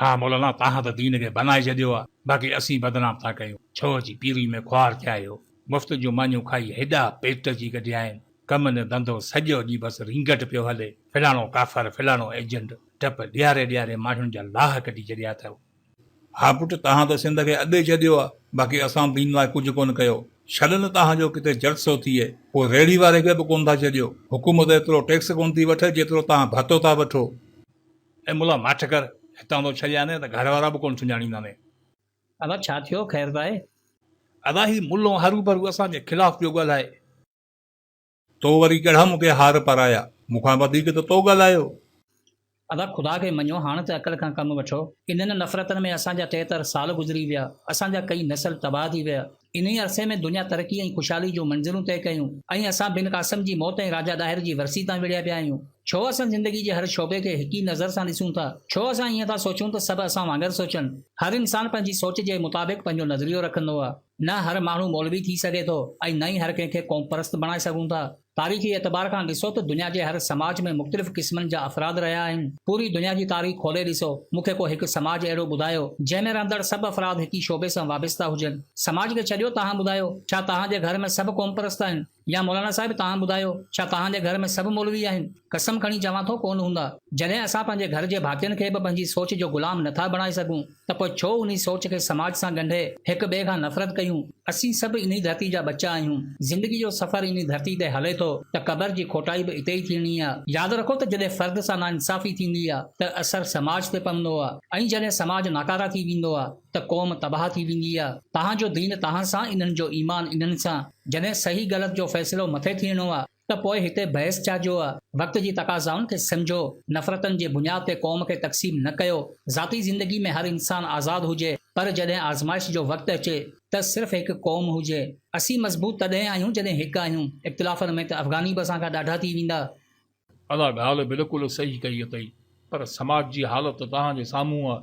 ها مولانا توهان ته دين کي بنائي ڇڏيو آ باقي اسين بدنام ٿا ڪيون ڇو اچي پيري ۾ خوار ٿيا آهيو مفت جون مانيون کائي هيڏا پيٽ جي ڪڍيائين ڪم نه ڌنڌو سڄو ڏينهن بس رينگٽ پيو هلي فلاڻو ڪافر فلاڻو ايجنٽ ڊپ ڏياري ڏياري ماڻهن جا لاهه ڪڍي ڇڏيا اٿئو. ها پٽ توهان ته سنڌ کي اڏي ڇڏيو آ باقي اسان دين لاء ڪجهه ڪونه ڪيو ڇڏ نه توهان جو ڪٿي جلسو ٿئي پوء ريڙهي واري کي به ڪونه ٿا ڇڏيو حڪومت ايترو ٽيڪس ڪونه ٿي وٺي جيترو توهان ڀتو ٿا وٺو. اي ملا ماٺ ڪر، هتان ٿو ڇڏيانء ته گهر وارا به ڪونه سڃاڻيندانء. ادا ڇا ٿيو، خير ته آهي؟ ادا هي ملو هروڀرو اسان جي خلاف پيو ڳالهائي. تو وري ڪهڙا مون کي هار پارايا، مون کان وڌيڪ ته تو ڳالهايو. ادا خدا کي مڃو، هاڻ ته عقل کان ڪم وٺو. انهن نفرتن ۾ اسان جا ٽيهتر سال گذري ويا، اسان جا ڪئين نسل تباهه ٿي ويا. انهيء عرصي ۾ دنيا ترقي ۽ خوشحالي جون منزلون طئي ڪيون ۽ اسان بن قاسم جي موت ۽ راجا ڏاهر جي ورسي تان وڙهيا پيا آهيون. ڇو اسان زندگي جي هر شعبي کي هڪ ئي نظر سان ڏسون ٿا؟ ڇو اسان ائين ٿا سوچون ته سڀ اسان وانگر سوچن؟ هر انسان پنهنجي سوچ جي مطابق پنهنجو نظريو رکندو آهي. نه هر ماڻهو مولوي ٿي سگهي ٿو ۽ نه ئي هر ڪنهن کي قومپرست بڻائي سگهون ٿا. تاريخي اعتبار کان ڏسو ته دنيا جي هر سماج ۾ مختلف قسمن جا افراد رهيا آهن. پوري دنيا جي تاريخ کولي ڏسو، مون کي ڪو هڪ سماج اهڙو ٻڌايو، جنهن ۾ رهندڙ سڀ افراد هڪ ئي شعبي سان وابسته هجن. سماج کي ڇڏيو تهان ٻڌايو، ڇا تهان جي گهر ۾ سڀ قومپرست آهن؟ يا مولانا صاحب تهان ٻڌايو، ڇا تهان جي گهر ۾ سڀ مولوي آهن؟ قسم کڻي چوان ٿو ڪونه هوندا. جڏهن اسان پنهنجي گهر جي ڀاتين کي به پنهنجي سوچ جو غلام نٿا بڻائي سگهون. ته پوء ڇو انهي سوچ کي سماج سان ڳنڍي هڪ ٻئي کان نفرت ڪيون؟ اسين سڀ انهي ڌرتي جا ٻچا آهيون، زندگي جو سفر انهي ڌرتي تي هلي ٿو ته قبر جي کوٽائي به اتي ئي ٿيڻي آ. ياد رکو ته جڏهن فرد سان ناانصافي ٿيندي آ ته اثر سماج تي پوندو آ ۽ جڏهن سماج ناڪاره ٿي ويندو آ ته قوم تباهه ٿي ويندي آ. توهان جو دين توهان سان، انهن جو ايمان انهن سان. جڏهن صحيح غلط جو فيصلو مٿي ٿيڻو آ ته پوء هتي بحث ڇا جو وقت جي تقاضائن کي سمجهو، نفرتن جي بنياد تي قوم کي تقسيم نه ڪيو، ذاتي زندگي ۾ هر انسان آزاد هجي پر جڏهن آزمائش جو وقت اچي ته صرف هڪ قوم هجي. اسين مضبوط تڏهن آهيون جڏهن هڪ آهيون، اختلافن ۾ ته افغاني به اسان کان ڏاڍا ٿي ويندا. ادا ڳالهه بلڪل صحيح ڪئي اٿئي پر سماج جي حالت توهان جي سامهون آ.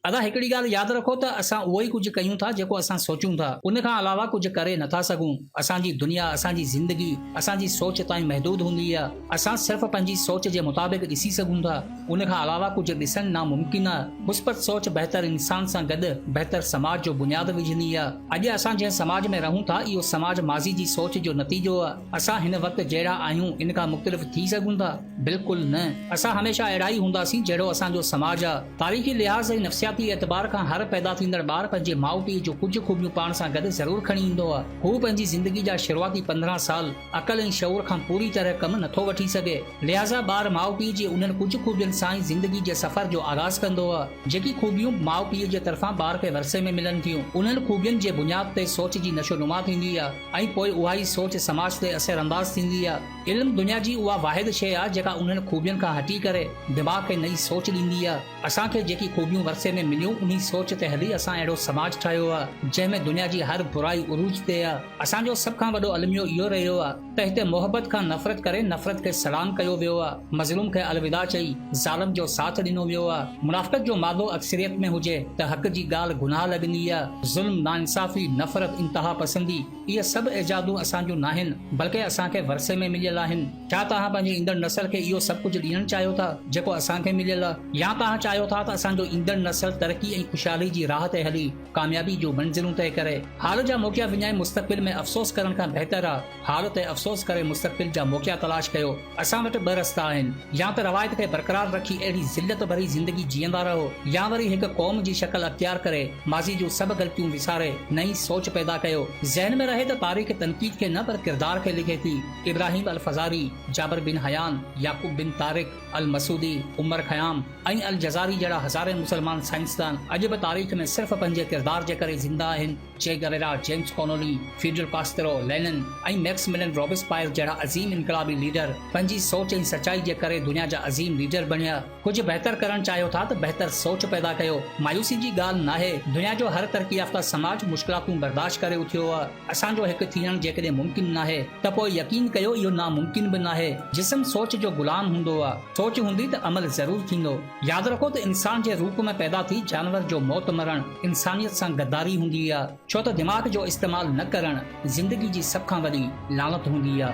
ادا هڪڙي ڳالهه ياد رکو ته اسان اهو ئي ڪجهه ڪيون ٿا جيڪو اسان سوچون ٿا ان کان علاوه ڪجهه ڪري نه ٿا سگهون اسان جي دنيا اسان جي زندگي اسان جي سوچ تائين محدود هوندي آهي اسان صرف پنهنجي سوچ جي مطابق ڏسي سگهون ٿا ان کان علاوه ڪجهه ڏسڻ ناممڪن آهي مثبت سوچ بهتر انسان سان گڏ بهتر سماج جو بنياد وجهندي آهي اڄ اسان جنهن سماج ۾ رهون ٿا اهو سماج ماضي جي سوچ جو نتيجو آهي اسان هن وقت جهڙا آهيون ان کان مختلف ٿي سگهون ٿا. بلڪل نه، اسان هميشه اهڙا ئي هونداسين جهڙو اسان جو سماج آ. تاريخي لحاظ ۽ نفسياتي اعتبار کان هر پيدا ٿيندڙ ٻار پنهنجي ماء پيء جون ڪجهه خوبيون پاڻ سان گڏ ضرور کڻي ايندو آ. هو پنهنجي زندگي جا شروعاتي پندرهن سال عقل ۽ شعور کان پوري طرح ڪم نٿو وٺي سگهي. لحاظا ٻار ماء پيء جي انهن ڪجهه خوبين سان ئي زندگي جي سفر جو آغاز ڪندو آ. جيڪي خوبيون ماء پيء جي طرفان ٻار کي ورثي ۾ ملن ٿيون، انهن خوبين جي بنياد تي سوچ جي نشو نما ٿيندي آ ۽ پوء اها ئي سوچ سماج تي اثر انداز ٿيندي آ. علم دنيا جي اها واحد شيء آهي جيڪا انهن خوبين کان هٽي ڪري دماغ کي نئين سوچ ڏيندي آهي. اسان کي جيڪي خوبيون ورثي ۾ مليون انهي سوچ تي هلي اسان اهڙو سماج ٺاهيو آهي جنهن ۾ دنيا جي هر برائي عروج تي آهي. اسان جو سڀ کان وڏو الميو اهو رهيو آهي ته هتي محبت کان نفرت ڪري نفرت کي سلام ڪيو ويو آهي، مظلوم کي الوداع چئي ظالم جو ساٿ ڏنو ويو آهي. منافقت جو مادو اڪثريت ۾ هجي ته حق جي ڳالهه گناهه لڳندي آهي. ظلم، ناانصافي، نفرت، انتهاپسندي، اهي سڀ ايجادون اسان جون ناهن، بلڪه اسان کي ورثي ۾ مليل آهن. ڇا توهان پنهنجي ايندڙ نسل کي اهو سڀ ڪجهه ڏيڻ چاهيو ٿا، جيڪو اسان کي مليل، يا توهان چاهيو ٿا ته اسان جو ايندڙ نسل ترقي ۽ خوشحالي جي راهه تي هلي، ڪاميابي جون منزلون طئي ڪري؟ حال جا موقعا وڃائي مستقبل ۾ افسوس ڪرڻ کان بهتر آهي، حال تي افسوس ڪري مستقبل جا موقعا تلاش ڪيو. اسان وٽ ٻه رستا آهن، يا ته روايت کي برقرار رکي اهڙي ذلت ڀري زندگي جيئندا رهو يا وري هڪ قوم جي شڪل اختيار ڪري ماضي جون سڀ غلطيون وساري نئين سوچ پيدا ڪيو. ذهن ۾ رهي ته تاريخ تنقيد کي نه پر ڪردار کي لکي ٿي. ابراهيم الفزاري، جابر بن حيان، يعقوب بن طارق، المسعودي، عمر خيام ۽ الجزاري جهڙا هزارين مسلمان سائنسدان اڄ به تاريخ ۾ صرف پنهنجي ڪردار جي ڪري زنده آهن. Che Guevara, James Connolly, Fidel Castro, Lenin ۽ Maximilien Robespierre جهڙا عظيم انقلابي ليڊر پنهنجي سوچ ۽ سچائي جي ڪري دنيا جا عظيم ليڊر بڻيا. ڪجهه بهتر ڪرڻ چاهيو ٿا ته بهتر سوچ پيدا ڪيو. مايوسي جي ڳالهه ناهي. دنيا جو هر ترقي يافته سماج مشڪلاتون برداشت ڪري اٿيو آهي. اسان جو هڪ ٿيڻ جيڪڏهن ممڪن ناهي ته پوء يقين ڪيو اهو ناممڪن به ناهي. جسم سوچ جو غلام هوندو آهي. سوچ هوندي ته عمل ضرور ٿيندو. ياد رکو ته انسان جي روپ ۾ پيدا ٿي جانور جو موت مرڻ انسانيت سان غداري هوندي آ ڇو ته دماغ جو استعمال نه ڪرڻ زندگي جي سڀ کان وڏي لعنت هوندي آ.